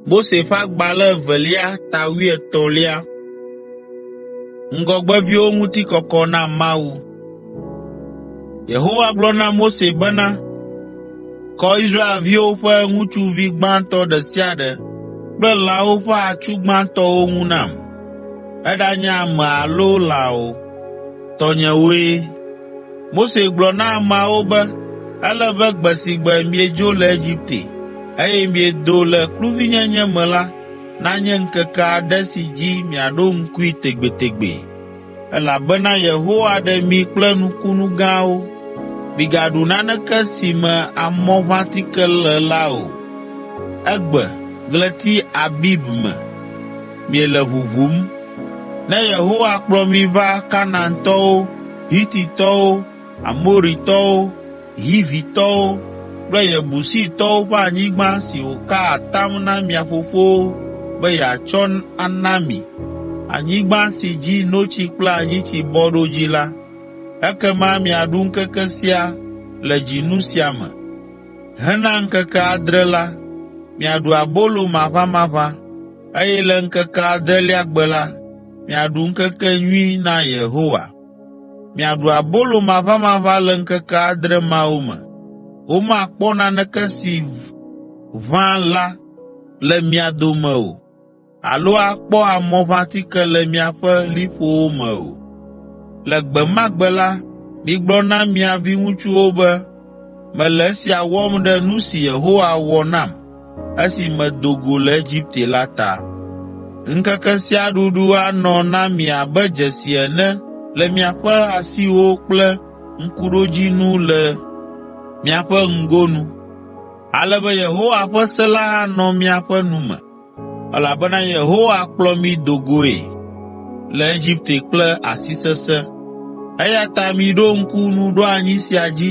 Mose ƒe agbalẽ evelia ta wuietɔ̃lia. Ŋgɔgbeviwo ŋuti kɔkɔ na Mawu. Yehowa gblɔ na Mose bena, “Kɔ Israelviwo ƒe ŋutsuvi gbãtɔ ɖe sia ɖe kple lãwo ƒe atsu gbãtɔwo ŋu nam, eɖanye ame alo lã o, tɔnyewoe.” Mose gblɔ na ameawo be, “Ele be gbe si gbe miedzo le Egipte, eye miedo le kluvinyenye me la, nanye ŋkeke aɖe si dzi miaɖo ŋkui tegbetegbe, elabena Yehowa ɖe mi kple nukunu gãwo. Migaɖu naneke si me amɔʋãtike le la o.” Egbe, ɣleti Abib me, Miele ʋuʋum. Ne Yehowa kplɔ mi va Kanaantɔwo, Hititɔwo, Amoritɔwo, Hivitɔwo kple Yebusitɔwo ƒe anyigba si wòka atam na mia fofowo be yeatsɔ ana mi, anyigba si dzi notsi kple anyitsi bɔ ɖo dzi la, ekema miaɖu ŋkeke sia le dzinu sia me. Hena ŋkeke adre la, miaɖu abolo maʋamaʋã. eye le ŋkeke adelia gbe la, miaɖu ŋkekenyui na Yehowa. Miaɖu abolo maʋamaʋã le ŋkeke adre mawo me. Womakpɔ naneke si ʋã la le mia dome o alo akpɔ amɔʋãtike le miaƒe liƒowo me o. Le gbe ma gbe la, migblɔ na mia viŋutsuwo be, ‘Mele esia wɔm ɖe nu si Yehowa wɔ nam.’ esi medo go le Egipte la ta. Ŋkeke sia ɖuɖu anɔ na mi abe dzesi ene le miaƒe asiwo kple ŋkuɖodzinu le miaƒe ŋgonu, ale be Yehowa ƒe se la anɔ miaƒe nu me, elabena Yehowa kplɔ mi do goe le Egipte kple asi sesẽ. Eya ta miɖo ŋku nuɖoanyi sia dzi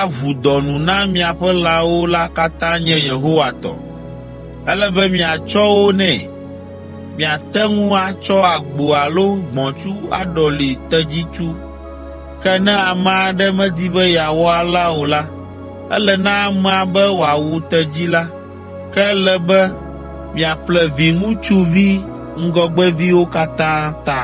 aʋu dɔ nu na miaƒe lãwo la katã nye Yehowa tɔ. Ele be miatsɔ wo nɛ. Miate ŋu atsɔ agbo alo gbɔ̃tsu aɖɔli tedzitsu. Ke ne ame aɖe medi be yeawɔ alea o la, ele na amea be wòawu tedzi la. Ke ele be miaƒle viŋutsuvi ŋgɔgbeviwo katã ta.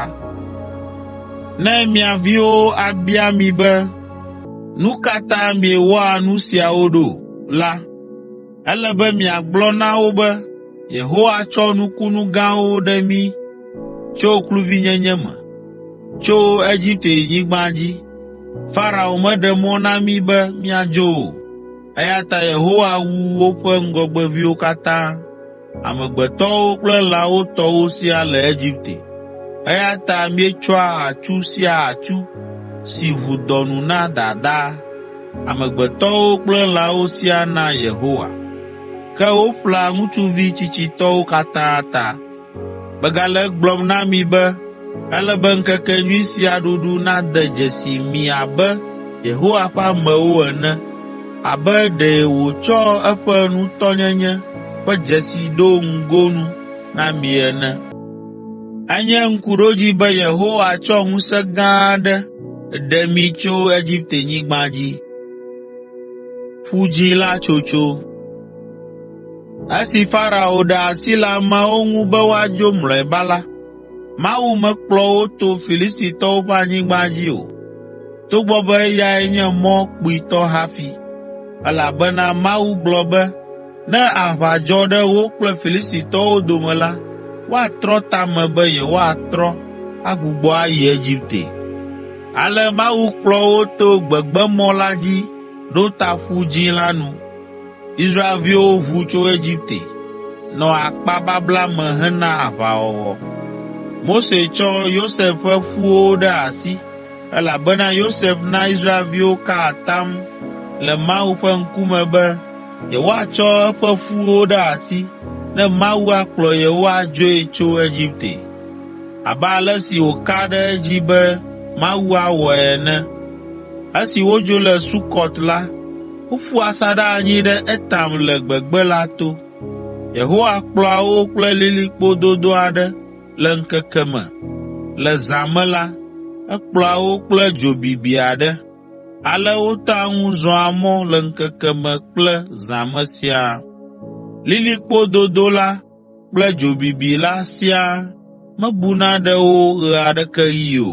Nu ka ta miewɔa nu siawo ɖo? la, ele be miagblɔ na wo be, ‘Yehowa tsɔ nukunu gãwo ɖe mí tso kluvinyenye me, tso Egipte-nyigba dzi. Farao meɖe mɔ na mí be míadzo o, eya ta Yehowa wu woƒe ŋgɔgbeviwo katã.’ amegbetɔwo kple lãwo tɔwo siaa le Egipte. Eya ta míetsɔa atsu sia atsu si ʋu dɔ nu na dada, amegbetɔwo kple lãwo siaa naa Yehowa. Ke woƒlea ŋutsuvi tsitsitɔwo katã ta. Megale egblɔm na mi be, ele be ŋkekenyui sia ɖuɖu nade dzesi mi abe Yehowa ƒe amewo ene. Abe ɖe wòtsɔ eƒe nutɔnyenye ƒe dzesi ɖo ŋgonu na mi ene. Enye ŋkuɖodzi be Yehowa tsɔ ŋusẽ gã aɖe ɖe mi tso Egiptenyigba dzi. Ƒu Dzĩ La Tsotso Esi Farao ɖe asi le ameawo ŋu be woadzo mlɔeba la, Mawu mekplɔ wo to Filistitɔwo ƒe anyigba dzi o, togbɔ be eyae nye mɔ kpuitɔ hafi, elabena Mawu gblɔ be, ‘Ne aʋa dzɔ ɖe wo kple Filistitɔwo dome la, woatrɔ ta me be yewoatrɔ agbugbɔ ayi Egipte.’ Ale Mawu kplɔ wo to gbegbemɔ la dzi ɖo ta Ƒu Dzĩ la nu. Israelviwo ʋu tso Egipte, nɔ akpa babla me hena aʋawɔwɔ. Mose tsɔ Yosef ƒe ƒuwo ɖe asi, elabena Yosef na Israelviwo ka atam le Mawu ƒe ŋkume be yewoatsɔ eƒe ƒuwo ɖe asi ne Mawu akplɔ yewo adzoe tso Egipte, abe ale si wòka ɖe edzi be Mawu awɔe ene. Esi wodzo le Sukɔt la, Woƒu asaɖa anyi ɖe Etam le gbegbe la to. Yehowa kplɔa wo kple lilikpo dodo aɖe le ŋkeke me. Le zã me la, ekplɔa wo kple dzo bibi aɖe. Ale wotea ŋu zɔa mɔ le ŋkeke me kple zã me siaa. Lilikpo dodo la kple dzo bibi la siaa mebuna ɖe wo ɣe aɖeke ɣi o.